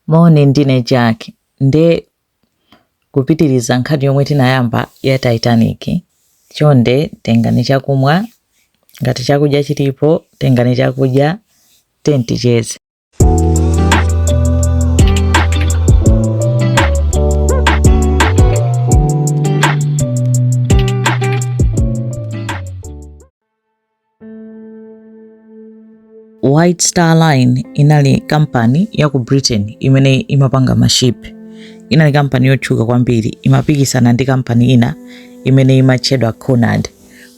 Moni, ndine Jack. Nde kupitiriza nkhani yomwe tinayamba ya Titanic. Chonde tengani chakumwa, ngati chakudya chilipo tengani chakudya, tiyeni ticheze. White Star Line inali kampani ya ku Britain imene imapanga maship. Inali kampani yotchuka kwambiri, imapikisana ndi kampani ina imene imatchedwa Cunard.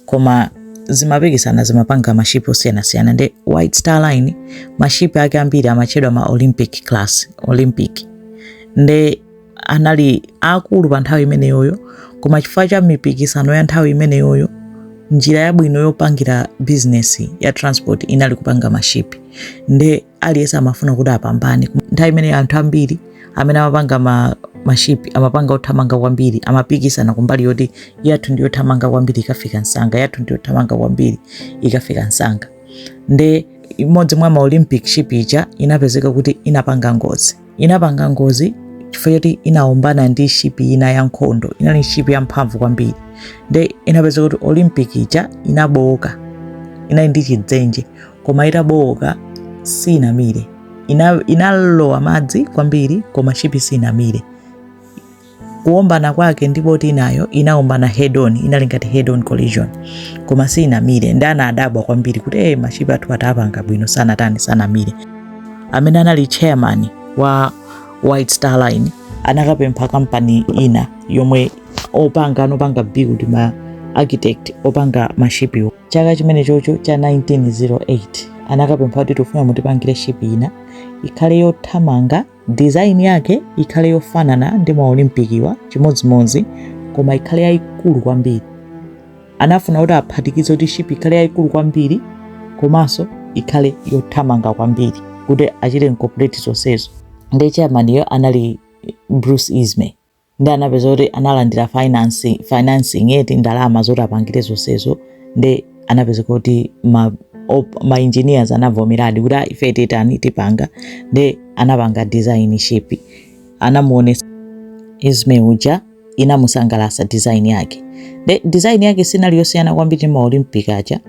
Koma zimapikisana zimapanga maship osiyanasiyana nde White Star Line, maship ake ambiri amatchedwa ma Olympic class, Olympic. Nde anali akulu pa nthawi imeneyoyo koma chifukwa cha mipikisano ya nthawi imeneyoyo njira yabwino yopangira bizinesi ya transport inali kupanga mashipi nde aliyense amafuna kuti apambane nthawi imene anthu ambiri amene amapanga ma, mashipi amapanga othamanga kwambiri amapikisana kumbali yoti yathu ndi yothamanga kwambiri ikafika msanga yathu ndi yothamanga kwambiri ikafika msanga nde imodzi mwa ma olympic ship ija inapezeka kuti inapanga ngozi inapanga ngozi chifukwa choti inaombana ndi shipi ina ya nkhondo inali shipi yamphamvu kwambiri nde inapezeka kuti olympic ija inabowoka inali ndi chidzenje koma itabowoka sinamire Ina- inalowa madzi kwambiri koma shipi sinamire kuombana kwake ndi boti inayo inaombana head on, inali ngati head on collision, koma sinamire. Nde anadabwa kwambiri kuti eh, mashipi athu tapanga bwino, sanatani sanamire. Amene anali chairman wa White Star Line anakapempha kampani ina yomwe opanga anopanga build ma architect opanga mashipiwo chaka chimene chocho cha 1908 anakapempha kuti tufuna mutipangire shipi ina ikhale yothamanga Design yake ikhale yofanana ndi ma Olympic-wa chimodzimodzi koma ikhale yayikulu kwambiri. Anafuna kuti aphatikize kuti shipi ikhale yayikulu kwambiri komanso ikhale yothamanga kwambiri kuti achite incorporate zonsezo. Nde chairman-yo anali Bruce Ismay. nde anapezeka kuti analandira finance financing eti ndalama zoti apangire zonsezo nde anapezeka kuti ma op- ma engineers anavomeradi kuti "Ah, ife titani tipanga nde anapanga design ship anamuonetsa Ismay uja inamusangalatsa design yake nde design yake sinali yosiyana kwambiri ndi ma olympic aja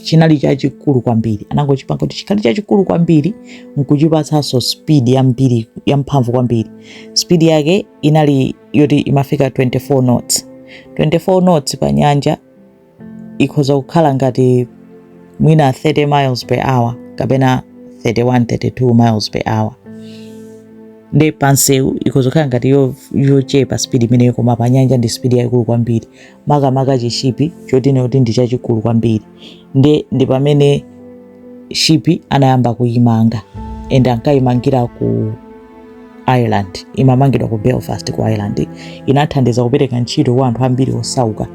chinali chachikulu kwambiri anangochipanga kuti chikhale chachikulu kwambiri nkuchipatsanso speed yambiri yamphamvu kwambiri speed yake inali yoti imafika 24 knots 24 knots pa nyanja ikhoza kukhala ngati mwina 30 miles per hour kapena 31 32 miles per hour nde pansewu ikhoza kukhala ngati yo- yochepa speed imeneyo koma pa nyanja ndi speed yaikulu kwambiri makamaka chishipi choti ine kuti ndi chachikulu kwambiri nde ndi pamene shipi anayamba kuyimanga and ankayimangira ku ireland imamangidwa ku belfast ku ireland inathandiza kupereka ntchito kwa anthu ambiri osauka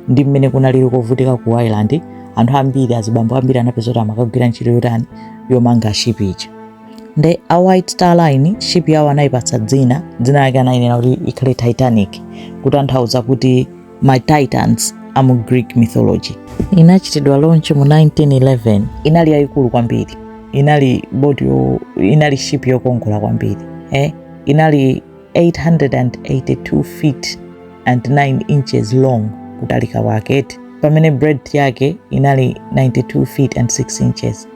ndi mmene kunalili kovutika ku ireland anthu ambiri azibambo ambiri anapeza kuti amakagwira ntchito yotani yomanga shipi ija nde a white star line ship yawo anayipatsa dzina dzina lake anayinena kuti ikhale titanic kutanthauza kuti ma titans a mu greek mythology inachitidwa launch mu 1911 inali yayikulu kwambiri inali boti yo inali ship yokongola kwambiri eh? inali 882 feet and 9 inches long kutalika kwake pamene breadth yake inali 92 feet and 6 inches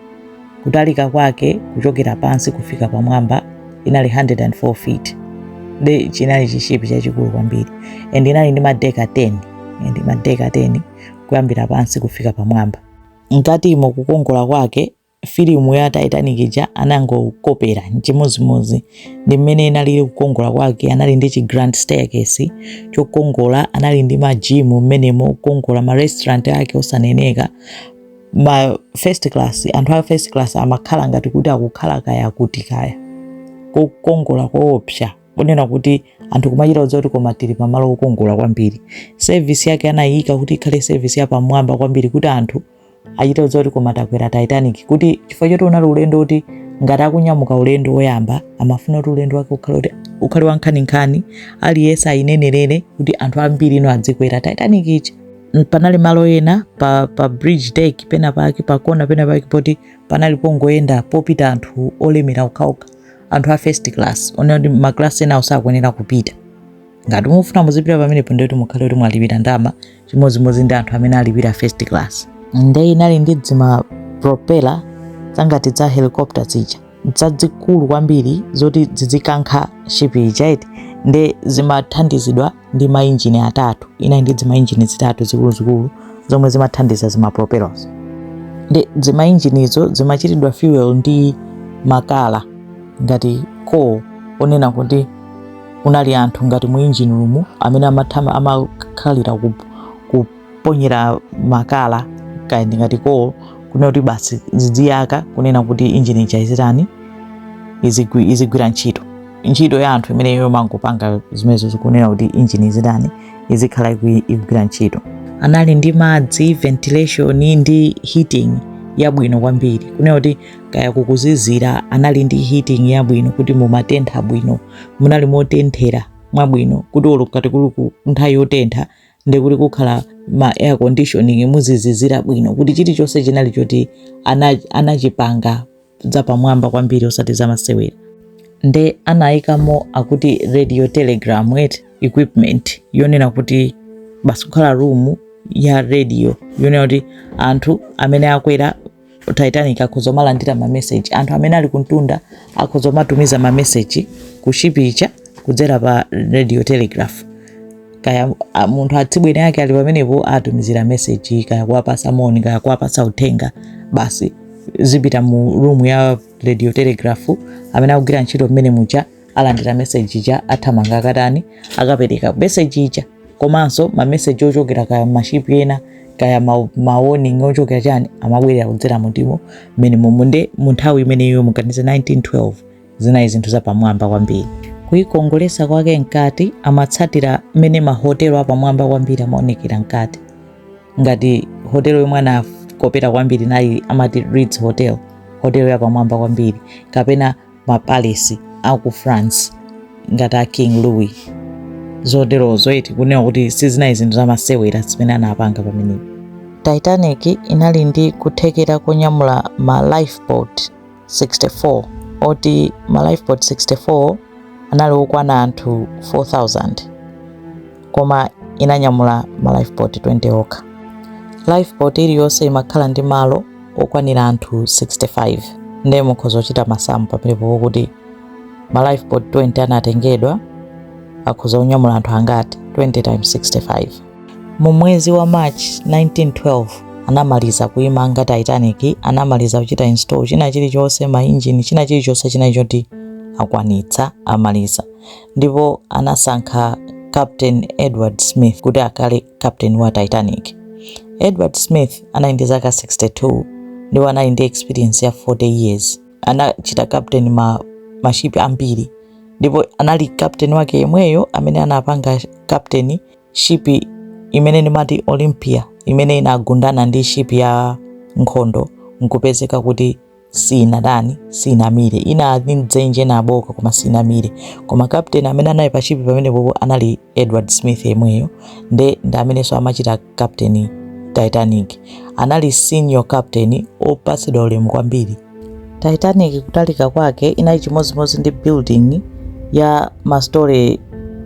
Kutalika kwake kuchokera pansi kufika pamwamba inali 104 feet. Nde chinali chishipi chachikulu kwambiri and inali ndi madeki 10 and madeki 10 kuyambira pansi kufika pamwamba. Mkatimo kukongola kwake filimu ya Titanic ija anangokopera chimodzimodzi ndi mmene inalili kukongola kwake. Anali ndi chi grand staircase chokongola, anali ndi majimu mmenemo okongola, ma restaurant ake osaneneka, ma first class anthu a first class amakhala ngati kuti akukhala kaya kuti kaya kokongola koopsa kunena kuti anthu kumachita kudziwa kuti koma tili pamalo okongola kwambiri sevisi yake anayika kuti ikhale sevisi yapamwamba kwambiri kuti anthu achite kudziwa kuti koma takwera titanic kuti chifukwa choti unali ulendo kuti ngati akunyamuka ulendo woyamba amafuna kuti ulendo wake ukhale kuti ukhale wankhaninkhani aliyense ayinenerere kuti anthu ambiri ino adzikwera titanic ija N- panali malo ena pa, pa bridge deck pena pake pakona pena pake poti panali pongoyenda popita anthu olemera okhaokha anthu a first class onena kuti maklasi enawo sakuyenera kupita ngati mufuna muzipita pamenepo ndiye kuti mukhale kuti mwalipira ndalama chimodzimodzi ndi anthu amene alipira first class nde inali ndi dzima propela zangati dza helicopter zija zazikulu kwambiri zoti zizikankha shipi ija nde zimathandizidwa ndi mainjini atatu inali ndi dzimainjini zitatu zikuluzikulu zomwe zimathandiza zimapropellers nde dzimainjinizo zimachitidwa fuel ndi makala ngati coal onena kuti kunali anthu ngati mu engine room amene amathama amakhalira ku, ku kuponyera makala kaya ndingati coal kunena kuti basi zidziyaka kunena kuti injini ija izitani izigwi- izigwira ntchito ntchito ya anthu imene yomangopanga zimenezo zi kunena kuti injini izitani izikhala igwira ntchito anali ndi madzi ventilation ndi heating yabwino kwambiri kunena kuti kaya kukuzizira anali ndi heating yabwino kuti mumatentha bwino munali motenthera mwabwino kuti olo ngati kuli ku nthawi yotentha ndi kuli kukhala ma air conditioning muzizizira bwino kuti chilichonse chinali choti ana- anachipanga zapamwamba kwambiri osati zamasewera nde anayikamo akuti radio telegram equipment yonena kuti basi kukhala room ya radio yonena kuti anthu amene akwera titanic akhoza kumalandira mameseji anthu amene ali kuntunda akhoza kumatumiza mameseji kushipi ija kudzera pa radio telegraph kaya a- munthu atsibweni ake ali pamenepo atumizira meseji kaya kuwapasa moni kaya kuwapasa uthenga basi zipita mu room ya radio telegraph amene akugwira ntchito mmene muja alandira meseji ija athamanga akatani akapereka meseji ija komanso mameseji ochokera kaya mashipi ena kaya mawoning ma ochokera chani amabwerera kudzera mu room mmene momo nde munthawi imeneyo muganize 1912 zinali zinthu zapamwamba kwambiri kuikongolesa kwake mkati amatsatira mmene mahotelo apamwamba kwambiri amaonekera mkati ngati hotelo yomwe anakopera kwambiri inali amati Ritz Hotel hotelo yapamwamba kwambiri kapena ma palace aku france ngati a king louis zoterozo eti kunena kuti sizinali zinthu zamasewera zimene anapanga pamenepo titanic inali ndi kuthekera konyamula ma lifeboat 64 oti ma lifeboat 64 anali okwana anthu 4000 koma inanyamula ma lifeboat 20 okha. Lifeboat iliyonse imakhala ndi malo okwanira anthu 65 ndiye mukhoza kuchita masamu pamenepo kuti ma lifeboat 20 anatengedwa akhoza kunyamula anthu angati 20 times 65 mu mwezi wa march 1912 anamaliza kuimanga titanic anamaliza kuchita install china chilichonse mainjini china chilichonse chinali choti akwanitsa amaliza ndipo anasankha Captain Edward Smith kuti akhale captain wa Titanic. Edward Smith anali ndi zaka 62 ndipo anali ndi experience ya 40 years. Anachita captain mashipi ambiri ndipo anali captain wake yemweyo amene anapanga captain shipi imene ndimati Olympia imene inagundana ndi shipi ya nkhondo nkupezeka kuti sinatani sinamire ina ndi mdzenje inaboka koma sinamire koma captain amene anali pashipi pamenepo anali edward smith yemweyo nde ndi amenenso amachita captain titanic anali senior captain opatsidwa ulemu kwambiri titanic kutalika kwake inali chimodzimodzi ndi building ya mastori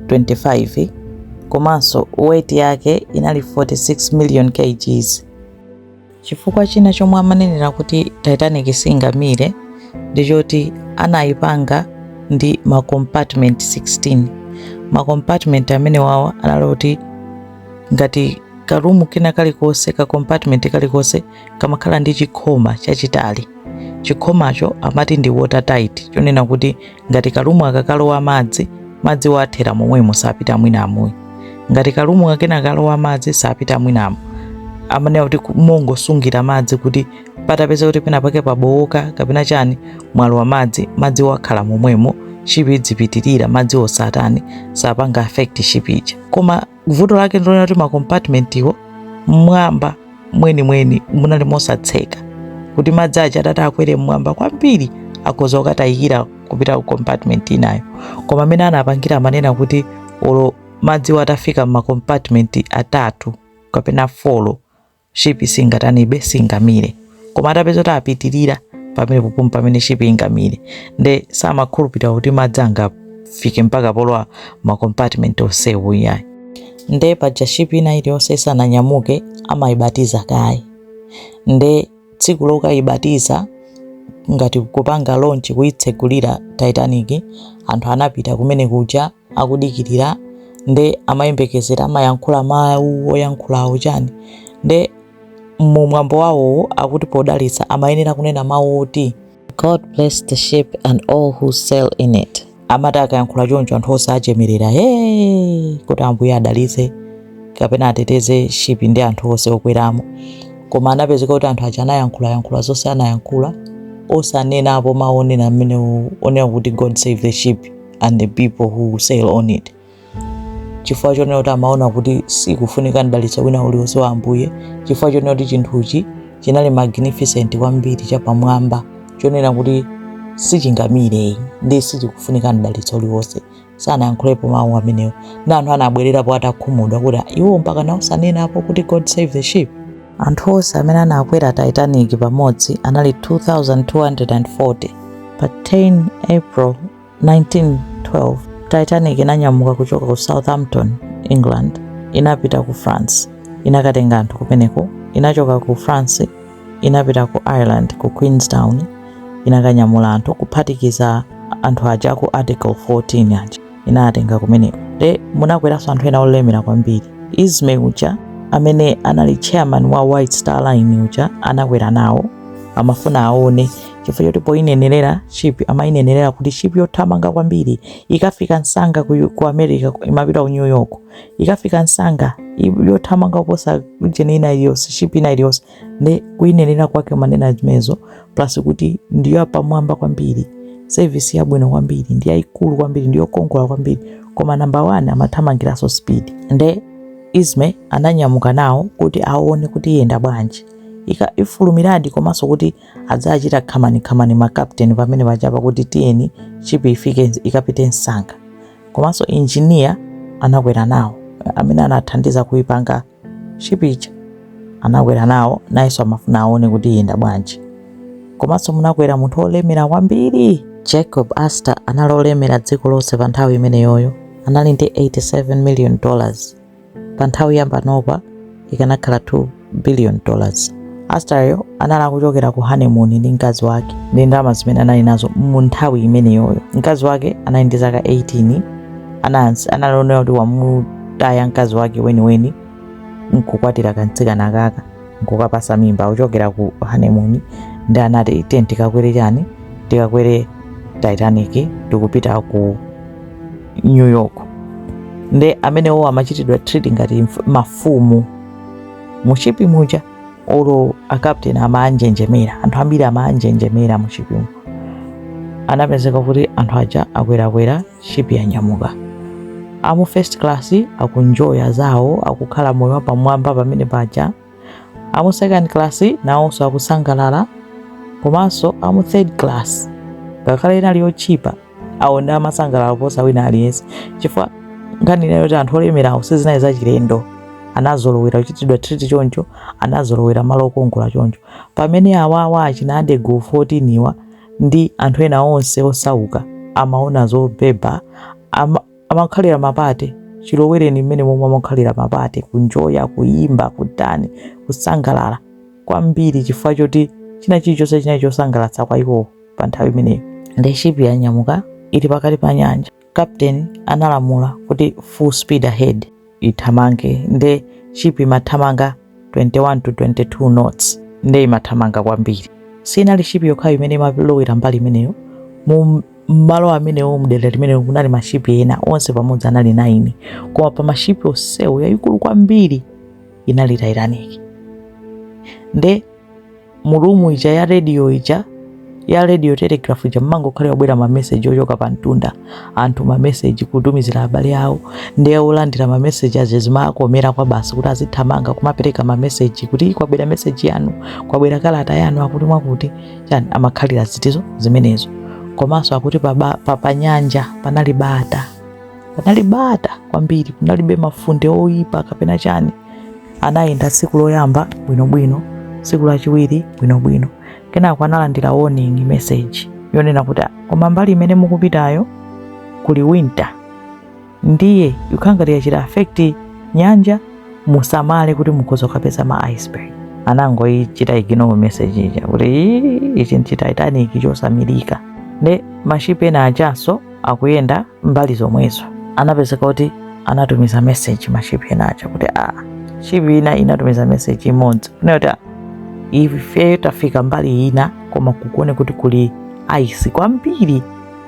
25 komanso weight yake inali 46 million kgs Chifukwa china chomwe amanenera kuti Titanic singamire ndi choti anayipanga ndi ma compartment 16. Ma compartment amene wawa anali kuti ngati karumu kena kalikonse ka compartment kalikonse kamakhala ndi chikhoma chachitali. Chikhomacho amati ndi watertight chonena kuti ngati kalumu akakalowa madzi madziwo athera momwemo sapita mwinamu iyayi ngati kalumu kakena akalowa madzi sapita mwinamo amanena kuti ku- mongosungira madzi kuti patapeza kuti pena pake pabowoka kapena chani mwalowa madzi madziwo akhala momwemo shipi idzipitirira madzi osatani sapanga affect shipi ija koma vuto lake ndilonena kuti makompatmentiwo mmwamba mwenimweni munali mosatseka kuti madzi aja atati akwere mmwamba kwambiri akhoza kukatayikira kupita ku compartment inayo koma amene anapangira amanena kuti olo madziwo atafika mmakompatmenti atatu kapena folo shipi singatanibe singamire koma atapeza kuti apitirira pamenepo mpomwe pamene shipi ingamire nde samakhulupirira kuti madzi angafike mpaka polowa makompartment onsewo iyayi nde paja shipi ina iliyonse isananyamuke amayibatiza kaye nde tsiku lokayibatiza ngati kupanga lonchi kuyitsegulira titanic anthu anapita kumene kuja akudikirira nde amayembekezera amayankhula mawu oyankhulawo chani nde mu mwambo wawowo akuti podalitsa amayenera kunena mawu oti god bless the ship and all who sail in it amati akayankhula choncho anthu onse achemerera he kuti ambuye adalitse kapena ateteze shipi ndi anthu onse okweramo koma anapezeka kuti anthu aja anayankhulayankhula zonse anayankhula osanenapo mawu onena amene onena kuti god save the ship and the people who sail on it chifukwa chonena kuti amaona kuti sikufunika mdalitso wina uliwonse wa ambuye chifukwa chonena kuti chinthuchi chinali magnificent kwambiri chapamwamba chonena kuti sichingamire ndi sichikufunika mdalitso uliwonse sanayankhulepo mawu amenewo na anthu anabwererapo atakhumudwa kuti iwo mpakana osanenapo kuti god save the ship anthu onse amene anakwera titanic pamodzi anali 2240 pa 10 april 1912, Titanic inanyamuka kuchoka ku Southampton, England, inapita ku France, inakatenga anthu kumeneko, inachoka ku France, inapita ku Ireland, ku Queenstown, inakanyamula anthu kuphatikiza anthu aja aku Addergoole 14 aja inatenga kumeneko. Nde munakweranso anthu ena olemera kwambiri. Ismay uja amene anali chairman wa White Star Line uja anakwera nawo amafuna aone chifukwa choti poyinenerera ship amayinenerera kuti ship yothamanga kwambiri ikafika msanga ku, ku america imapita ku new york ikafika msanga i- yothamanga kuposa ujeni ina iliyonse ship ina iliyonse nde kuyinenerera kwake amanena zimenezo plus kuti ndi yapamwamba kwambiri service yabwino kwambiri ndi yayikulu kwambiri ndi yokongola kwambiri koma namba 1 amathamangiranso speed nde Ismay ananyamuka nawo kuti aone kuti iyenda bwanji Ika- ifulumiradi komanso kuti adzachita khamani-khamani ma captain pamene pajapa kuti tiyeni ship ifike ikapite msanga komanso engineer anakwera nawo amene anathandiza kuipanga ship ija anakwera nawo nayenso amafuna aone kuti iyenda bwanji komanso munakwera munthu olemera kwambiri Jacob Astor anali olemera dziko lonse pa nthawi imeneyoyo anali ndi 87 million dollars pa nthawi ya panopa ikanakhala 2 billion dollars Astor-yo anali akuchokera ku honeymoon ndi mkazi wake ndi ndalama zimene anali nazo mu nthawi imeneyoyo mkazi wake anali ndi zaka 18 anansi analionera kuti wamutaya mkazi wake weniweni nkukwatira kamtsikana kaka nkukapasa mimba kuchokera ku honeymoon ndi anati tiye tikakwere chani tikakwere titanic tikupita ku new york nde amenewo amachitidwa treat ngati mf- mafumu mu ship muja olo a captain amanjenjemera anthu ambiri amanjenjemera mu ship-mu anapezeka kuti anthu aja akwerakwera ship yanyamuka amu first class akunjoya zawo akukhala moyo wapamwamba pamene paja amu second class nawonso akusangalala komanso amu third class ngakhale inali yotchipa awo nde amasangalala kuposa wina aliyense chifukwa nkhani inayo kuti anthu olemerawo sizinali zachilendo anazolowera kuchitidwa treat choncho anazolowera malo okongola choncho pamene awawa achina Addergoole 14 awa ndi anthu ena onse osauka amaona zobeba ama, amakhalira ma party chilowereni mmene momwe amakhalira ma party kunjoya kuyimba kutani kusangalala kwambiri chifukwa choti china chilichonse chinali chosangalatsa kwa iwowo pa nthawi imeneyo nde ship yanyamuka ili pakati pa nyanja Captain analamula kuti full speed ahead ithamange nde ship imathamanga 21 to 22 knots nde imathamanga kwambiri sinali ship yokhayo imene imalowera mbali imeneyo mu mmalo amenewo mdera limenelo kunali mashipi ena onse pamodzi anali 9 koma pa mashipi onsewo yayikulu kwambiri inali titanic nde mu room ija ya radio ija ya radio telegraph ija mumangokhalira kubwera mameseji ochoka pa mtunda anthu mameseji kutumizira abale awo nde olandira mameseji aja zimakomera kwa basi kuti azithamanga kumapereka mameseji kuti kwabwera meseji yanu kwabwera kalata yanu akuti mwakuti chani amakhalira zitizo zimenezo komanso akuti pa, ba- pa, pa nyanja panali bata panali bata kwambiri kunalibe mafunde oyipa kapena chani anayenda tsiku loyamba bwinobwino tsiku lachiwiri bwinobwino kenako analandira warning message yonena kuti "Ah, koma mbali imene mukupitayo kuli winter ndiye ikukhala ngati yachita affect nyanja musamale kuti mukhoza kukapeza ma iceberg anangoyichita ignore message ija kuti "Ii, ichi ndi chi titanic chosamirika nde mashipi ena ajanso akuyenda mbali zomwezo anapezeka kuti anatumiza message mashipi ena aja kuti a shipi ina inatumiza message imodzi kunena kuti "Ah, ife tafika mbali ina koma kukuoneka kuti kuli ice kwambiri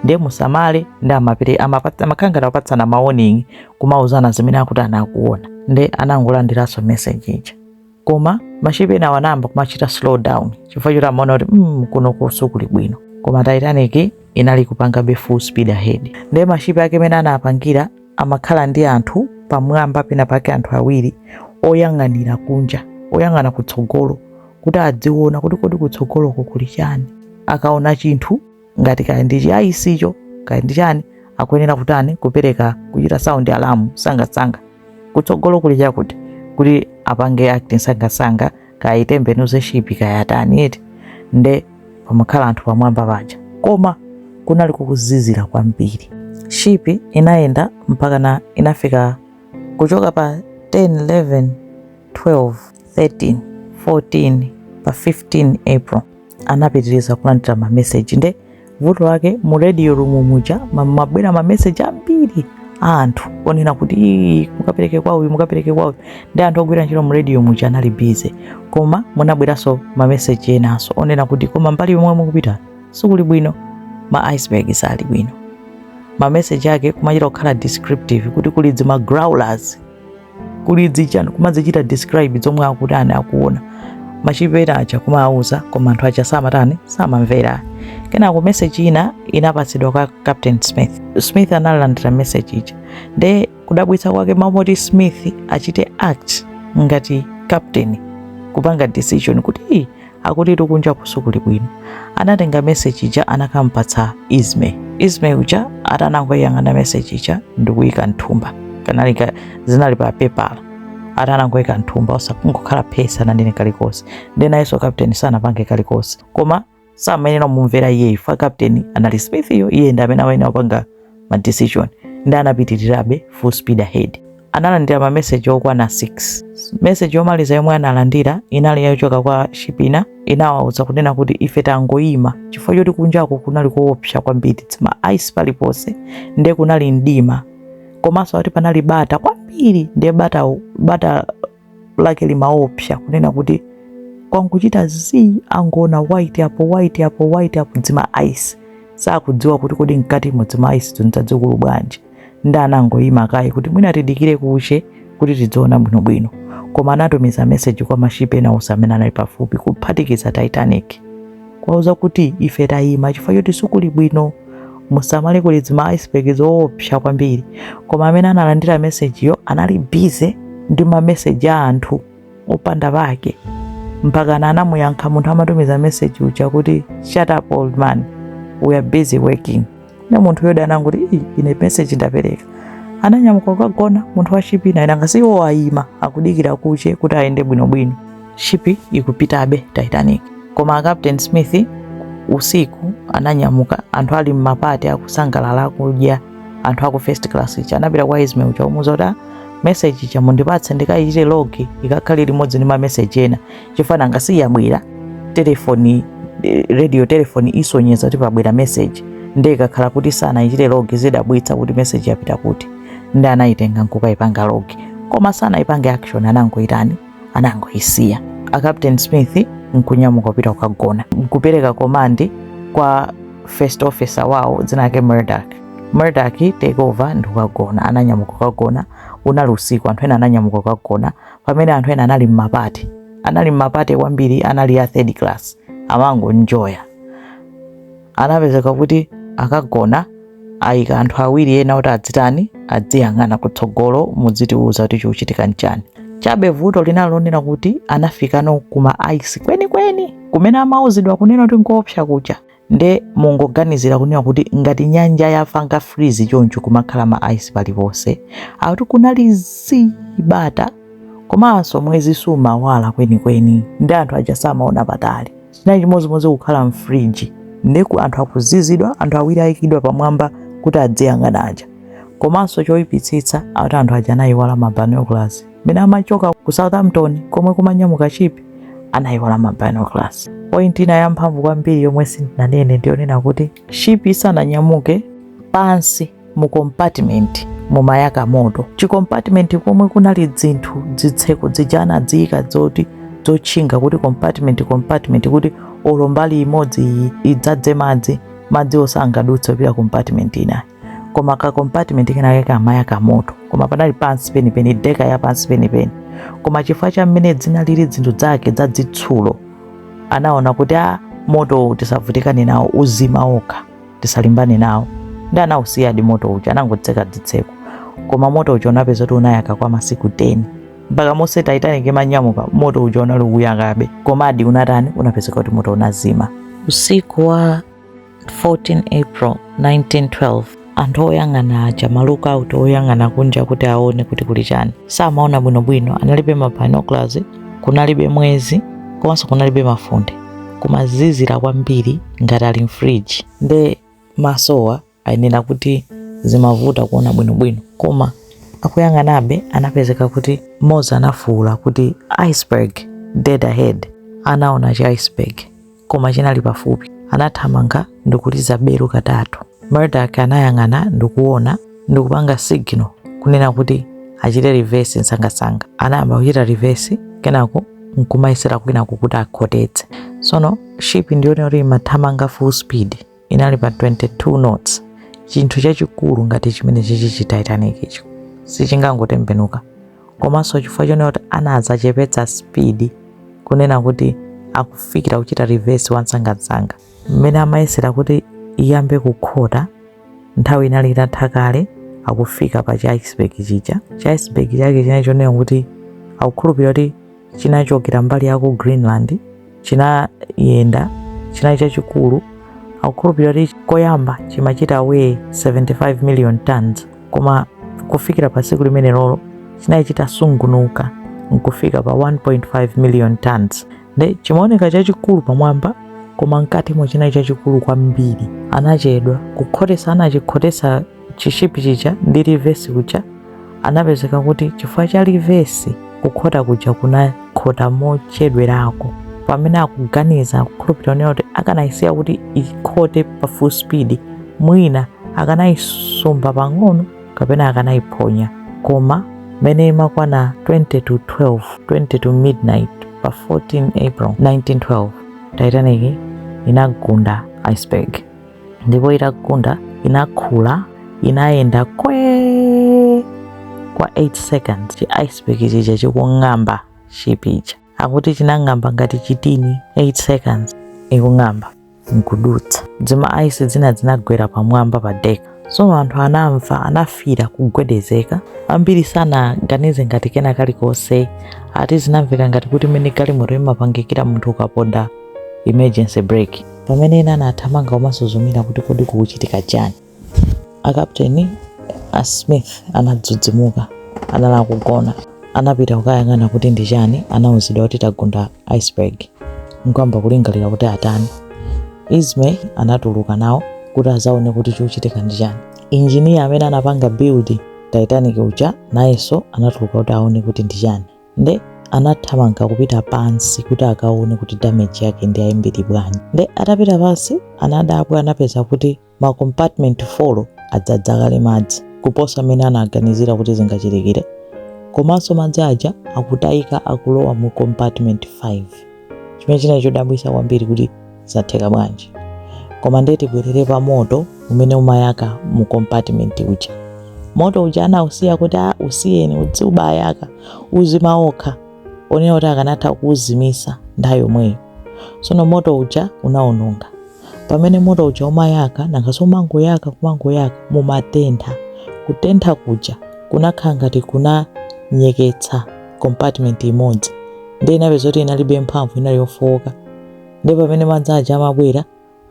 ndiye musamale nde amapere amapatsa- amakhala ngati akupatsana ma warning kumauzana zimene akuchita akuona nde anangolandiranso message ija koma mashipi enawo anayamba kumachita slow down chifukwa choti amaona kuti mm, kunoku sikuli bwino koma titanic inali kupangabe full speed ahead ndiye mashipi ake mmene anapangira amakhala ndi anthu pamwamba pena pake anthu awiri oyang'anira kunja oyang'ana kutsogolo kuti adziona kuti kodi kutsogoloko kuli chani akaona chinthu ngati kaya ndi chiayisicho kaya ndi chani akuyenera kutani kupereka kuchita sound alarm sangasanga kutsogolo kuli chakuti kuti apange action sangasanga kaya itembenuze shipi kaya atani eti nde pamakhala anthu pamwamba paja koma kunali kukuzizira kwambiri shipi inayenda mpakana inafika kuchoka pa 10 11 12 13 14 pa 15 april anapitiriza kulandira mameseji nde vuto lake mu radio room muja mumabwera mameseji ambiri a anthu onena kuti "Ii, mukapereke kwa uyu mukapereke kwa uyu nde anthu ogwira ntchito mu radio muja anali busy koma munabweranso mameseji enanso onena kuti koma mbali yomwe mukupita sikuli bwino ma iceberg sali bwino mameseji ake kumachita kukhala descriptive kuti kuli zima growlers kuli dzichani kumadzichita describe zomwe akuti ani akuona mashipi ena aja kumawauza koma anthu aja samatani samamvera kenako meseji ina inapatsidwa kwa captain smith smith analandira meseji ija nde kudabwitsa kwake m'malo moti smith achite act ngati captain kupanga decision kuti akuti kunjaku sikuli bwino anatenga meseji ija anakampatsa Ismay Ismay uja atanangoyang'ana meseji ija ndikuyika mthumba kanali ka- zinali pa pepala atanangoyika mthumba basi kungokhala phee sananene kalikonse nde nayenso kapteni sanapange kalikonse koma samayenera kumumvera iyeyo fa kapteni anali smith yo iye ndi amene amayenera kupanga ma decision nde anapitirirabe full speed ahead. Analandira ma message okwana 6. Message yomaliza yomwe analandira inali yochoka kwa ship ina inawauza kunena kuti ife tangoyima chifukwa choti kunjako kunali kuopsa kwambiri dzima ice paliponse nde kunali mdima komanso akuti panali bata kwambiri nde bata bata lake limaopsa kunena kuti kwangochita zii akungoona white apo white apo white apo dzima ice sakudziwa kuti kodi mkati mo dzima ice zo ndi dzadzikulu bwanji nde anangoyima kaye kuti mwina tidikire kuche kuti tidziona bwinobwino koma anatumiza meseji kwa mashipi ena onse amene anali pafupi kuphatikiza titanic kuwauza kuti ife tayima chifukwa choti sikuli bwino musamale kuli dzima iceberg zoopsa kwambiri koma amene analandira mesejiyo anali busy ndi mameseji a anthu opanda pake mpakana anamuyankha munthu amatumiza meseji uja kuti shut up old man we are busy working nde munthu yo adangoti "Ii, ine message ndapereka ananyamuka kukagona munthu wa shipi inayi nanga siwo ayima akudikira kuche kuti ayende bwinobwino shipi ikupitabe titanic koma a captain smith usiku ananyamuka anthu ali mmapati akusangalala akudya anthu aku first class ichi anapita kwa Ismay uja kumuuza kuti "Ah, message ija mundipatse ndikayichite log ikakhale limodzi ndi mameseji ena chifa nanga si yabwera telefoni eh, radio telefoni isonyeza kuti pabwera message ndiye ikakhala kuti sanaichite log zidabwitsa kuti message yapita kuti nde anayitenga nkukayipanga log koma sanayipange action anangoyitani anangoyisiya a captain smith nkunyamuka kupita kukagona kupereka komandi kwa first officer wawo dzina lake Murdoch Murdoch take over ndikukagona ananyamuka kukagona unali usiku anthu ena ananyamuka kukagona pamene anthu ena anali mmapate anali mmapate kwambiri anali a third class amangoenjoya anapezeka kuti akagona ayika anthu awiri ena kuti adzitani adziyang'ana kutsogolo mudzitiuza kuti chikuchitika nchani chabe vuto linali lonena kuti anafikano kuma ice kwenikweni kumene amauzidwa kunena kuti nkoopsa kuja nde mungoganizira kunena kuti ngati nyanja yafanga freeze choncho kumakhala ma ice paliponse akuti kunali zibata komanso mwezi sumawala kwenikweni ndi anthu aja samaona patali chinali chimodzimodzi kukhala mfriji nde anthu akuzizidwa anthu awiri ayikidwa pamwamba kuti adziyang'ana aja komanso choyipitsitsa ati anthu aja anayiwala mabinoculars mene amachoka ku Southampton komwe kumanyamuka ship anayiwala ma binoculars. Point ina yamphamvu kwambiri yomwe sindinanene ndiyonena kuti ship isananyamuke pansi mu compartment mumayaka moto chicompartment komwe kunali dzinthu dzitseko dzija anadziyika dzoti dzotchinga kuti compartment compartment kuti olo mbali imodzi idzadze madzi madzi osangadutse kupita compartment inayi koma ka compartment kenake kamayaka moto koma panali pansi penipeni deka ya pansi penipeni koma chifukwa cha mmene zinalili zinthu zake zazitsulo anaona kuti a motowu tisavutikane nawo uzima okha tisalimbane nawo ndi anawusiyadi moto uja anangotseka dzitseko koma moto uja unapeza kuti unayaka kwa masiku 10 mpaka monse titanic imanyamuka moto uja unali ukuyakabe komadi unatani unapezeka kuti moto unazima usiku wa 14 April 1912 anthu oyang'ana aja ma lookout oyang'ana kunja kuti aone kuti kuli chani samaona bwinobwino analibe ma binoculars kunalibe mwezi komanso kunalibe mafunde kumazizira kwambiri ngati ali mfriji nde masowa ayenera kuti zimavuta kuona bwinobwino koma akuyang'anabe anapezeka kuti mmodzi anafuwula kuti iceberg dead ahead anaona chi iceberg koma chinali pafupi. Anathamanga ndi kuliza belu katatu. Murdoch anayang'ana ndi kuona ndi kupanga signal kunena kuti achite reverse nsangasanga. Anayamba kuchita reverse kenako nkumayesera kwinako kuti akhotetse. Sono ship ndiyonena kuti imathamanga full speed. inali pa 22 knots chinthu chachikulu ngati chimene chichi chi titanic icho sichingangotembenuka komanso chifukwa chonena kuti anadzachepetsa speed kunena kuti akufikira kuchita reverse wansangasanga mmene amayesera kuti iyambe kukhota nthawi inali itatha kale akufika pa cha iceberg chija cha iceberg chake chinali chonena kuti akukhulupirira kuti chinachokera mbali ya ku Greenland chinayenda chinali chachikulu akukhulupirira kuti koyamba chimachita weigh 75 million tons koma kufikira pa tsiku limenelolo chinali chitasungunuka nkufika pa 1.5 million tons nde chimaoneka chachikulu pamwamba koma mkatimo chinali chachikulu kwambiri anachedwa kukhotesa anachikhotesa chishipi chija ndi reverse kuja anapezeka kuti chifukwa cha reverse kukhota kuja kunakhota mochedwerako pamene akuganiza kukhulupirira onena kuti akanayisiya kuti ikhote pa full speed mwina akanayisumba pang'ono kapena akanayiphonya koma mene imakwana 20 to 12 20 to midnight pa 14 april 1912 titanic inagunda iceberg ndipo itagunda inakhula inayenda kwe kwa 8 seconds chi iceberg chija chikung'amba ship ija akuti chinang'amba ngati chitini 8 seconds ikung'amba nkudutsa dzima ice dzina dzinagwera pamwamba pa deck so anthu anamva anafila kugwedezeka ambiri sanaganize ngati kena kalikonse ati zinamveka ngati kuti mene galimoto imapangikira munthu ukaponda emergency brake pamene ena anathamanga kumasuzumira kuti kodi kukuchitika chani akapteni a smith anadzudzimuka anali akugona anapita kukayang'ana kuti ndi chani anauzidwa kuti tagunda iceberg nkuyamba kulingalira kuti atani ismay anatuluka nawo kuti azaone kuti chikuchitika ndi chani injiniya amene anapanga build titanic uja nayenso anatuluka kuti aone kuti ndi chani nde anathamanga kupita pansi kuti akaone kuti damage yake ndi yambiri bwanji nde atapita pansi anadabwa anapeza kuti ma compartment 4 adzadza kale madzi kuposa mene anaganizira kuti zingachitikire komanso madzi aja akutayika akulowa mu compartment 5 chimene chinali chodabwitsa kwambiri kuti zatheka bwanji koma ndiye tibwerere pa moto umene umayaka mu compartment uja moto uja anausiya kuti a usiyeni udzibayaka uzima wokha onena kuti akanatha kuuzimisa nthawi yomweyo sono moto uja unaononga pamene moto uja umayaka nanga si umangoyaka umangoyaka mumatentha kutentha kuja kunakhala ngati kunanyeketsa compartment imodzi ndiye inapeza kuti inalibe mphamvu inali yofowoka ndiye pamene madzi aja amabwera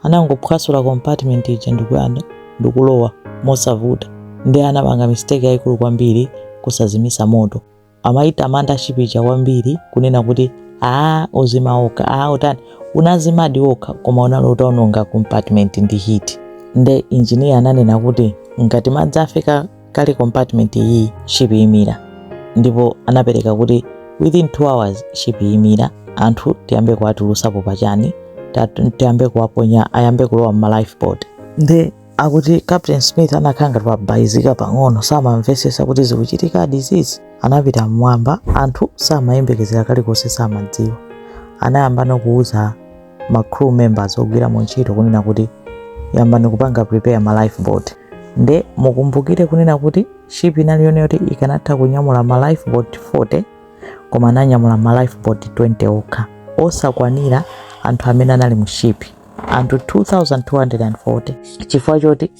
anangophwasula compartment ija ndikuyanda ndikulowa mosavuta ndiye anapanga mistake yayikulu kwambiri kusazimisa moto amayitamanda ship ija kwambiri kunena kuti aa uzima wokha aa utani unazimadi wokha koma unali utaononga compartment ndi heat nde injiniya ananena kuti ngati madzi afika kale compartment iyi ship imira ndipo anapereka kuti within 2 hours ship imira anthu tiyambe kuwatulusapo pachani ta- tiyambe kuwaponya ayambe kulowa mma lifeboat nde akuti captain smith anakhala ngati wabayizika pang'ono samamvesesa kuti zikuchitikadi zizi anapita mmwamba anthu samayembekezera kalikonse samadziwa anayambano kuwuza ma crew members ogwira ntchito kunena kuti yambani kupanga prepare ma lifeboat nde mukumbukire kunena kuti ship inali yoti ikanatha kunyamula ma lifeboat 40 koma ananyamula ma lifeboat 20 okha osakwanira anthu amene anali mu ship anthu 2240 chifukwa choti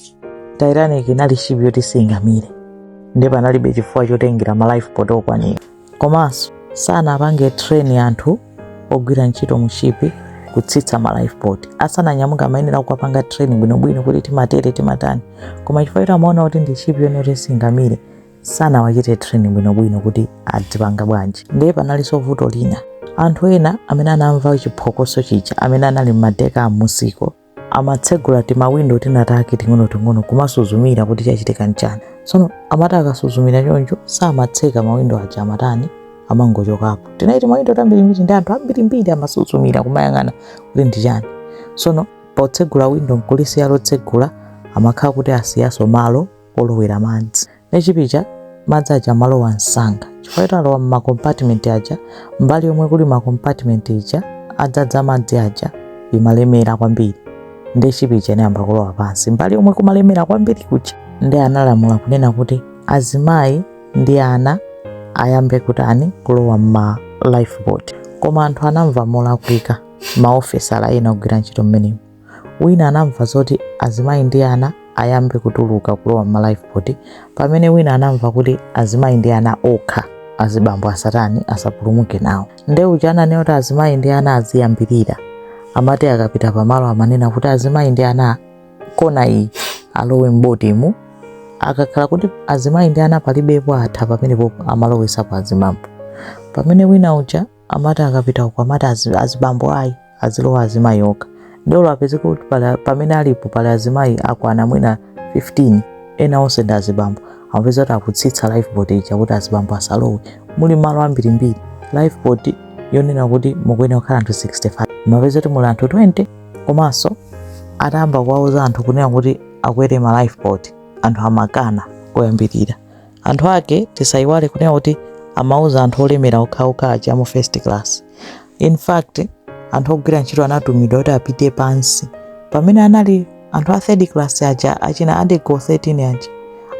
titanic inali ship yoti singamire nde panalibe chifukwa chotengera ma lifeboat okwanira komanso sanapange train anthu ogwira ntchito mu ship kutsitsa ma lifeboat asananyamuka amayenera kuwapanga training bwinobwino kuti timatere timatani koma chifukwa choti amaona kuti ndi ship yonena kuti singamire sanawachite training bwinobwino kuti adzipanga bwanji ndiye panalinso vuto lina anthu ena amene anamva chiphokoso chija amene anali m'ma deck amunsiko amatsegula timawindo tinatake ting'onoting'ono kumasuzumira kuti chachitika nchani tsono amati akasuzumira choncho samatseka mawindo aja amatani amangochokapo tinali timawindo tambirimbiri ndi anthu ambirimbiri amasuzumira kumayang'ana kuti ndi chani tsono potsegula windo nkulisiya lotsegula amakhala kuti asiyaso malo olowera madzi nde ship ija madzi aja amalowa msanga chifukwa choti alowa mmakompatimenti aja mbali yomwe kuli makompatimenti aja adzadza madzi aja imalemera kwambiri nde ship ija inayamba kulowa pansi mbali yomwe kumalemera kwambiri kuja nde analamula kunena kuti azimayi ndi ana ayambe kutani kulowa mma lifeboat koma anthu anamva molakwika maofesala ena ogwira ntchito mmenemo wina anamva zoti azimayi ndi ana ayambe kutuluka kulowa m'malifeboat pamene wina anamva kuti azimayi ndi ana okha azibambo asatani asapulumuke nawo nde uja ananena kuti azimayi ndi ana aziyambirira amati akapita pamalo amanena kuti azimayi ndi ana kona iyi alowe m'botimu akakhala kuti azimayi ndi ana palibepo atha pamenepo amalowesapo azibambo pamene wina uja amati akapita uko amati azibambo ayi azilowe azimayi okha nde amapezeka kuti pamene alipo pali azimayi akwana mwina 15 ena onse ndi azibambo amapeza kuti akutsitsa lifeboat ija kuti azibambo asalowe muli malo ambirimbiri lifeboat yonena kuti mukuyenera kukhala anthu 65 umapeza kuti muli anthu 20 komanso atayamba kuwauza anthu kunena kuti akwere ma lifeboat anthu amakana koyambirira anthu ake tisayiwale kunena kuti amauza anthu olemera okhaokha aja mu first class in fact anthu ogwira ntchito anatumizidwa kuti apite pansi pamene anali anthu a third class aja achina adego 13 aja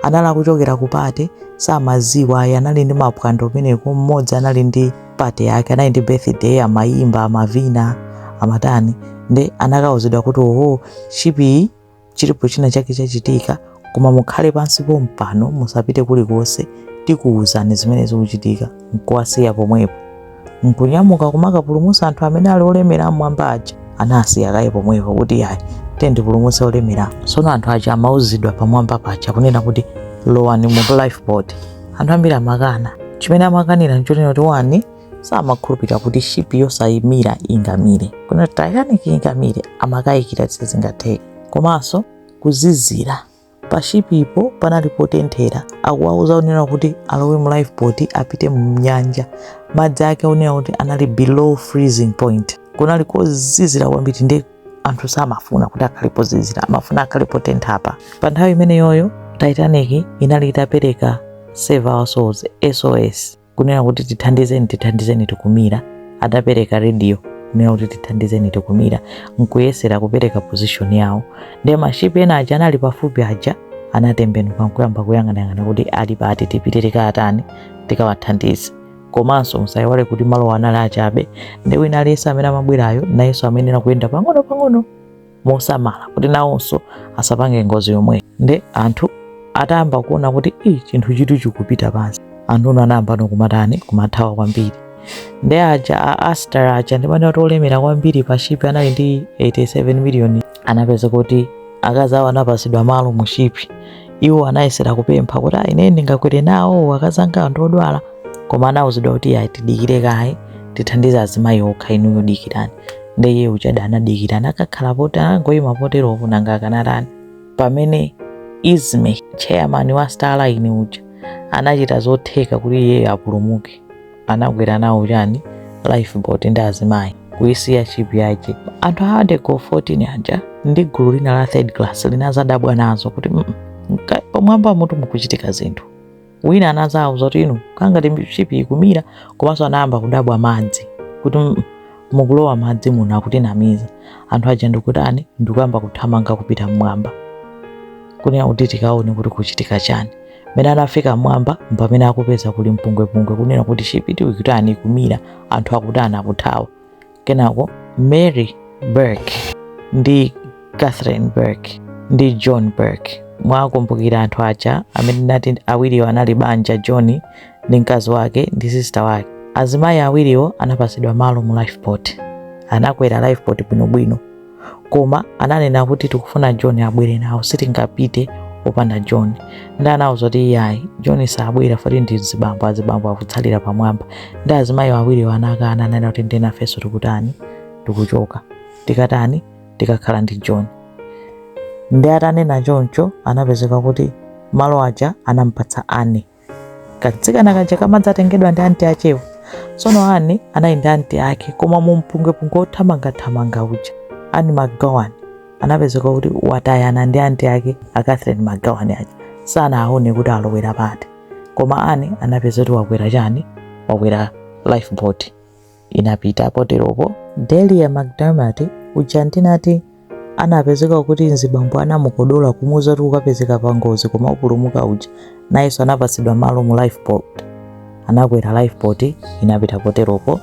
anali akuchokera ku pate samaziwa ayi anali ndi mapwando kumeneko mmodzi anali ndi pate yake anali ndi birthday amayimba amavina amatani nde anakauzidwa kuti oho ship iyi chilipo china chake chachitika koma mukhale pansi pompano musapite kulikonse tikuwuzani zimene zikuchitika nkuwasiya pomwepo nkunyamuka kumakapulumutsa anthu amene ali olemera a mmwamba aja anawasiya kaye pomwepo kuti ayi tiyambe tipulumutse olemera tsono anthu aja amauzidwa pamwamba paja kunena kuti lowani mu lifeboat anthu ambiri amakana chimene amakanira nchonena kuti wani samakhulupirira kuti shipi yosamira ingamire kunena kuti titanic ingamire amakayikira kuti sizingatheke komanso kuzizira pa shipipo panali potenthera akuwauza zonena kuti alowe mu lifeboat apite mu nyanja madzi ake onena kuti anali below freezing point kunali kozizira kwambiri ndi anthu samafuna kuti akhale pozizira amafuna akhale potentha apa pa nthawi imeneyoyo titanic inali itapereka save our souls sos kunena kuti tithandizeni tithandizeni tikumira adapereka radio kunena kuti tithandizeni tikumira nkuyesera kupereka position yawo nde mashipi ena aja anali pafupi aja anatembenuka nkuyamba kuyang'anayang'ana kuti ali pati tipite tikatani tikawathandize komanso musayiwale kuti malowo anali achabe nde wina aliyense amene amabwerayo nayenso amayenera kuyenda pang'ono pang'ono mosamala kuti nawonso asapange ngozi yomwe nde anthu atayamba kuona kuti i chinthuchitu chikupita pansi anthu anayambano kumatani kumathawa kwambiri nde aja a astor aja ndimanena olemera kwambiri pa shipi anali ndi 87 miliyoni anapeza kuti akazi awo anapasidwa malo mu shipi iwo anayesera kupempha kuti ayi ine ndingakwere nawo akazi anga ndi odwala koma anawuzidwa kuti ayi tidikire kaye tithandize azimayi okha inuyo dikirani nde iye uja anadikira anakakhala potero anangoyima poteropo nanga akanatani pamene ismay chairman wa star line uja anachita zotheka kuti iyeyo apulumuke anakwera nawo chani lifeboat ndi azimayi kuyisiya ship yache anthu a addergoole 14 aja ndi gulu lina la third class linazadabwa nazo kuti "Mm, mm, mka- pamwambamutu mukuchitika zinthu wina anadzawauza kuti inu kangati shipi ikumira komanso anayamba kudabwa madzi kuti "Mm, mukulowa madzi muno akutinamiza anthu aja ndikutani ndikuyamba kuthamanga kupita mmwamba kunena kuti tikaone kuti kuchitika chani mmene anafika mmwamba mpamene akupeza kuli mpungwepungwe kunena kuti shipitu ikutani ikumira anthu akutani akuthawa kenako mary burke ndi catherine burke ndi john burke mwakumbukira anthu aja amene ndinati awiriwo anali banja john ndi mkazi wake ndi sista wake azimayi awiriwo anapatsidwa malo mu lifeboat anakwera lifeboat bwinobwino koma ananena kuti tikufuna john abwere nawo sitingapite opanda john ndi anawauza kuti iyayi john sabwera poti ndi azibambo azibambo akutsalira pamwamba ndi azimayi awiriwo anakana ananena kuti nde nafenso tikutani tikuchoka tikatani tikakhala ndi john ndi atanena choncho anapezeka kuti malo aja anampatsa anne Katsikana kaja kamadzatengedwa ndi anti achewo. Tsono Anne anali ndi anti ake koma mu mpungwepungwe wothamangathamanga uja Anne McGowan anapezeka kuti watayana ndi anti ake a Catherine McGowan aja sanaone kuti alowera pati koma Anne anapezeka kuti wakwera chani wakwera lifeboat inapita poteropo Delia McDermott uja ndinati anapezeka kuti mzibambo anamukodola kumuuza kuti ukapezeka pa ngozi koma upulumuka uja nayenso anapatsidwa malo mu lifeboat anakwera lifeboat inapita poteropo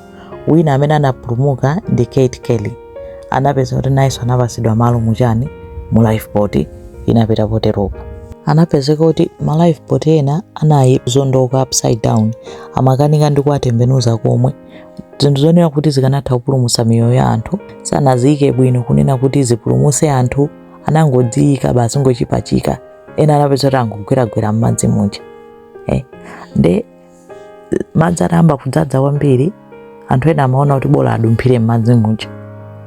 wina amene anapulumuka ndi Kate Kelly anapezeka kuti nayenso anapatsidwa malo mu chani mu lifeboat inapita poteropo anapezeka kuti ma lifeboat ena anali ozondoka upside down amakanika ndi kuwatembenuza komwe zinthu zonena kuti zikanatha kupulumutsa miyoyo ya anthu sanaziyike bwino kunena kuti zipulumutse anthu anangoziyika basi kungozipachika ena anapezeka kuti angogweragwera m'madzi muja eh? nde madzi atayamba kudzadza kwambiri anthu ena amaona kuti bola adumphire m'madzi muja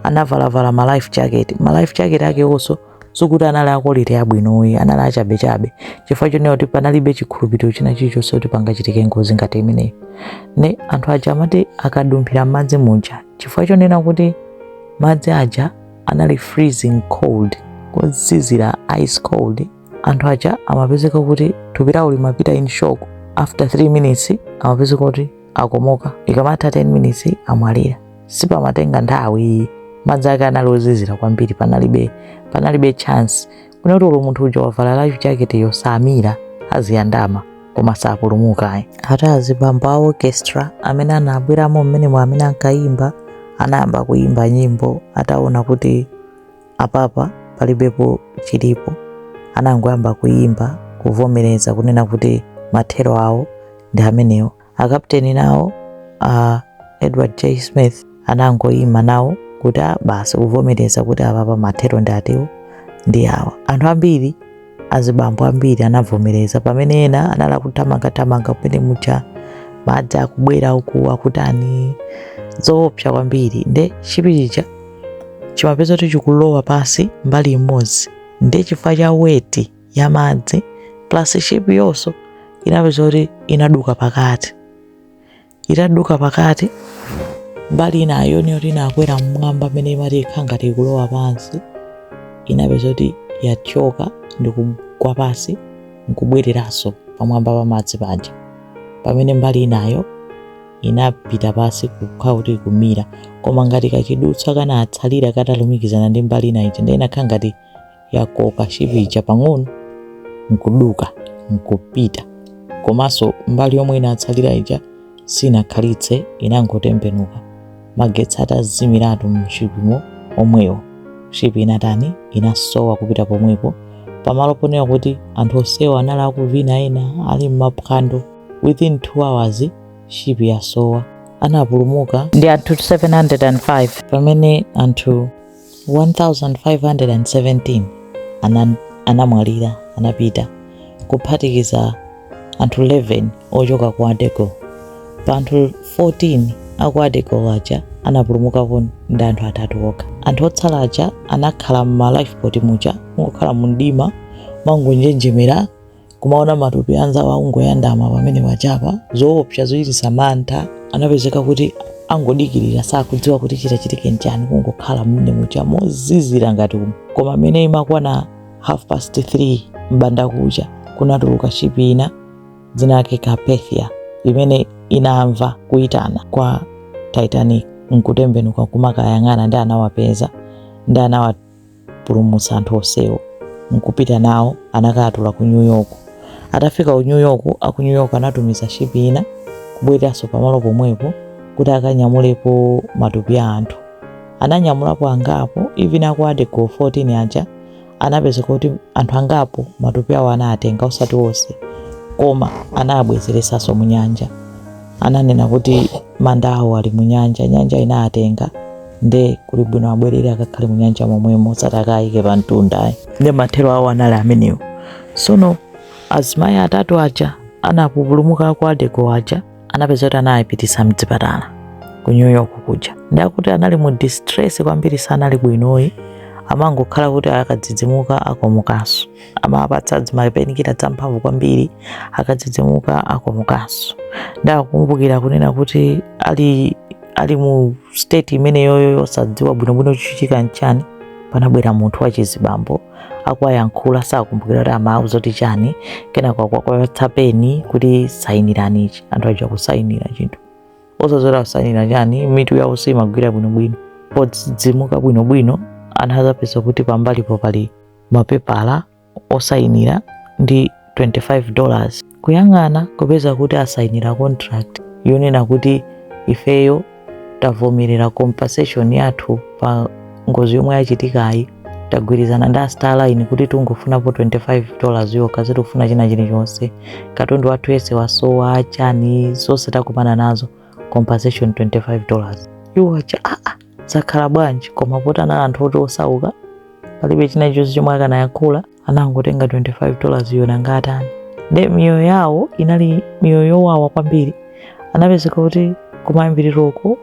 anavalavala ma life jacket ma life jacket ake onso sikuti anali a quality yabwino ayi anali achabechabe chifukwa chonena kuti panalibe chikhulupiriro china chilichonse kuti pangachitike ngozi ngati imeneyo nde anthu aja amati akadumphira m'madzi muja chifukwa chonena kuti madzi aja anali freezing cold ozizira ice cold anthu aja amapezeka kuti thupi lawo limapita in shock after 3 minutes amapezeka kuti akomoka ikamatha 10 minutes amwalira sipamatenga nthawi madzi ake anali ozizira kwambiri panalibe panalibe chance kunena kuti olo munthu uja wavala life jacket yo samira aziyandama koma sapulumuka ayi ati azibambo a orchestra amene anabweramo mmene mwa amene ankayimba anayamba kuyimba nyimbo ataona kuti apapa palibepo chilipo anangoyamba kuyimba kuvomereza kunena kuti mathero awo ndi amenewo akapteni nawo uh, edward j smith anangoyima nawo kuti "Ah, basi kuvomereza kuti apapa mathero ndi atiwo ndi awa anthu ambiri azibambo ambiri anavomereza pamene ena anali akuthamangathamanga kumene muja madzi akubwera uku akutani zoopsa kwambiri nde chi ship chija chimapezeka kuti chikulowa pansi mbali imodzi nde chifukwa cha weight ya madzi plus ship yonso inapezeka kuti inaduka pakati itaduka pakati mbali inayo niyoti inakwera mmwamba amene imati ikhala ngati ikulowa pansi inapeza kuti yathyoka ndi kugwa pansi nkubwereranso pamwamba pa madzi panja pamene mbali inayo inapita pansi kukhala kuti ikumira koma ngati kachidutsa kanatsalira katalumikizana ndi mbali inayo ija ndiye inakhala ngati yakoka shipi ija pang'ono nkuduka nkupita komanso mbali yomwe inatsalira ija sinakhalitse inangotembenuka magetsi atazimiratu mshipimo omwewo shipi inatani inasowa kupita pomwepo pamalo ponena kuti anthu onsewo anali akuvina ena ali mmaphwando within 2 hours shipi yasowa anapulumuka ndi anthu 705 pamene anthu 1517 ana, anamwalira anapita kuphatikiza anthu 11 ochoka ku adego pa anthu 14 aku adego aja anapulumukako ndi anthu atatu okha anthu otsala aja anakhala mma lifeboat muja mongokhala mumdima mangonjenjemera kumaona matupi anzawo akungoyandama pamene wachapa zoopsa zochititsa mantha anapezeka kuti angodikirira sakudziwa kuti chitachitike nchani kungokhala mmene muja mozizira ngati umu koma mmene imakwana half past 3 mbanda kucha kunatuluka shipi ina dzina lake carpathia imene inamva kuyitana kwa titanic nkutembenuka kumakayang'ana ndi anawapeza ndi anawa pulumutsa anthu onsewo nkupita nawo anakatula ku New York atafika ku New York aku New York anatumiza shipi ina kubwereranso pamalo pomwepo kuti akanyamulepo matupi a anthu ananyamulapo angapo even aku adego 14 aja anapezeka kuti anthu angapo matupi awo anatenga osati onse koma anabwezeresanso mu nyanja ananena kuti manda awo ali mu nyanja nyanja inawatenga nde kuli bwino abwerere akakhale mu nyanja momwemo osati akayike pa mtundayi nde mathero awo anali amenewo sono azimayi atatu aja anapulumuka aku adego aja anapeza kuti anawapititsa mdzipatala ku new york kuja ndi akuti anali mu distress kwambiri sanali bwinoyi amangokhala kuti akadzidzimuka akomukanso amawapatsa dzimapenikila dzamphamvu kwambiri akadzidzimuka akomukanso ndakumbukira kunena kuti ali ali mu state imeneyoyo yosadziwa bwinobwino chichitika nchani panabwera munthu wachizibambo akuwayankhula sakumbukira kuti amawauza kuti chani kenako akuwapatsa peni kuti sayinirani ichi anthu aja kusayinira chinthu osadziwa kusayinira chani mitu yawo simagwira bwinobwino podzidzimuka bwinobwino anadzapeza kuti pambalipo pali mapepala osayinira ndi 25 dollars kuyang'ana kupeza kuti asayinira contract yonena kuti ifeyo tavomereza compensation yathu pa ngozi yomwe yachitikayi tagwirizana ndi a Star Line kuti tungofunapo 25 dollars yokha sitikufuna china chilichonse katundu wathu yese wasowa chani zonse takumana nazo compensation 25 dollars iwo aja aa zakhala bwanji koma poti anali anthu oti osauka palibe china chilichonse chomwe akanayankhula anangotenga 25 dollars yo nanga atani nde miyoyo yawo inali miyoyo yowawa kwambiri anapezeka kuti kumayambiriroko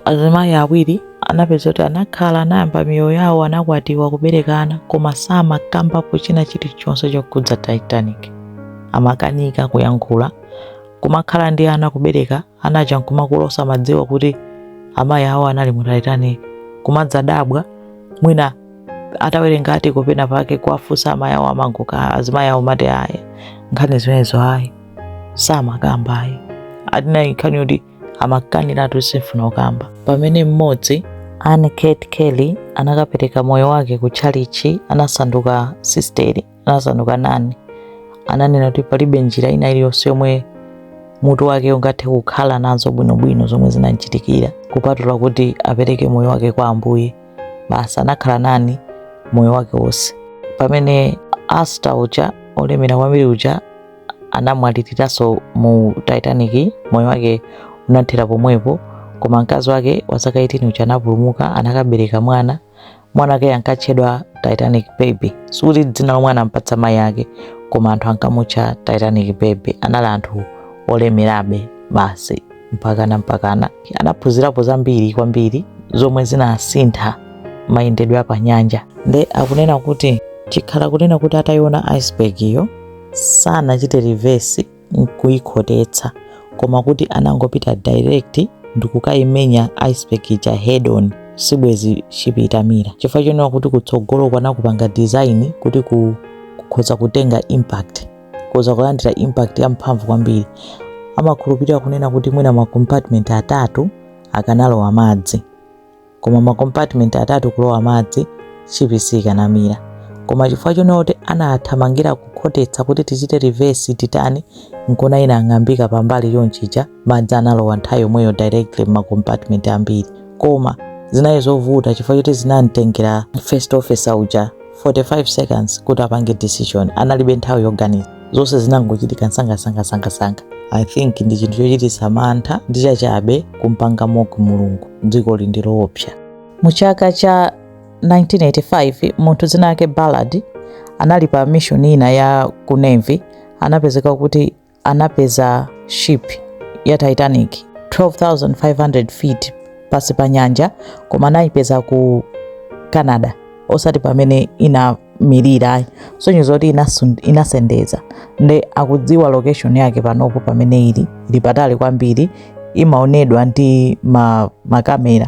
azimayi awiri anapezeka kuti anakhala anayamba miyoyo yawo anakwatiwa kuberekana koma samakambapo china chilichonse chokhudza titanic amakanika kuyankhula kumakhala ndi ana kubereka ana aja nkumakula osamadziwa kuti amayi awo anali mu Titanic kumadzadabwa mwina atawerenga kuti penapake kuwafunsa amayi awo amangokana azimayi awo amati aa nkhani zimenezo ayi samakamba ayi ati inali nkhani yoti amakaniratu simfuna kukamba pamene mmodzi Anne Kate Kelly anakapereka moyo wake ku tchalitchi anasanduka sisteri anasanduka nani ananena kuti palibe njira ina iliyonse yomwe mutu wake ungathe kukhala nazo bwinobwino zomwe zinamchitikira kupatula kuti apereke moyo wake kwa ambuye basi anakhala nani moyo wake wonse pamene Astor uja olemera kwambiri uja anamwaliriranso mu titanic moyo wake unathera pomwepo koma mkazi wake wa zaka 18 uja anapulumuka anakabereka mwana mwana wake ankatchedwa titanic baby sikuti dzina lomwe anampatsa mayi ake koma anthu ankamutcha titanic baby anali anthu olemerabe basi mpakana mpakana anaphunzirapo zambiri kwambiri zomwe zinasintha mayendedwe a panyanja nde akunena kuti chikhala kunena kuti ataiona iceberg iyo sanachite reverse n'kuikhotetsa koma kuti anangopita direct ndikukaimenya iceberg ija head on sibwezi shipi itamira chifukwa chonena kuti kutsogolo ko anakupanga design kuti kukhoza kutenga impact kukhoza kulandira impact ya mphamvu kwambiri amakhulupirira kunena kuti mwina ma compartment atatu akanalowa madzi koma ma compartment atatu kulowa madzi shipi siikanamira koma chifukwa chonena kuti anathamangira kukhotetsa kuti tichite reverse titani nkona inang'ambika pambali chonchija madzi analowa nthawi yomweyo directly mma compartment ambiri koma zinali zovuta chifukwa choti zinamtengera first officer uja 45 seconds kuti apange decision analibe nthawi yoganiza zonse zinangochitika nsangasangasangasanga i think ndi chinthu chochititsa mantha ndi chachabe kumpanga mock mulungu dziko ili ndi loopsa mu chaka cha 1985 munthu dzina lake ballard anali pa mission ina ya ku navy anapezeka kuti anapeza ship ya Titanic 12500 feet pasi pa nyanja koma anayipeza ku Canada osati pamene inamirira kusonyeza kuti inasendeza nde akudziwa location yake panopo pamene ili ili patali kwambiri imaonedwa ndi ma, makamera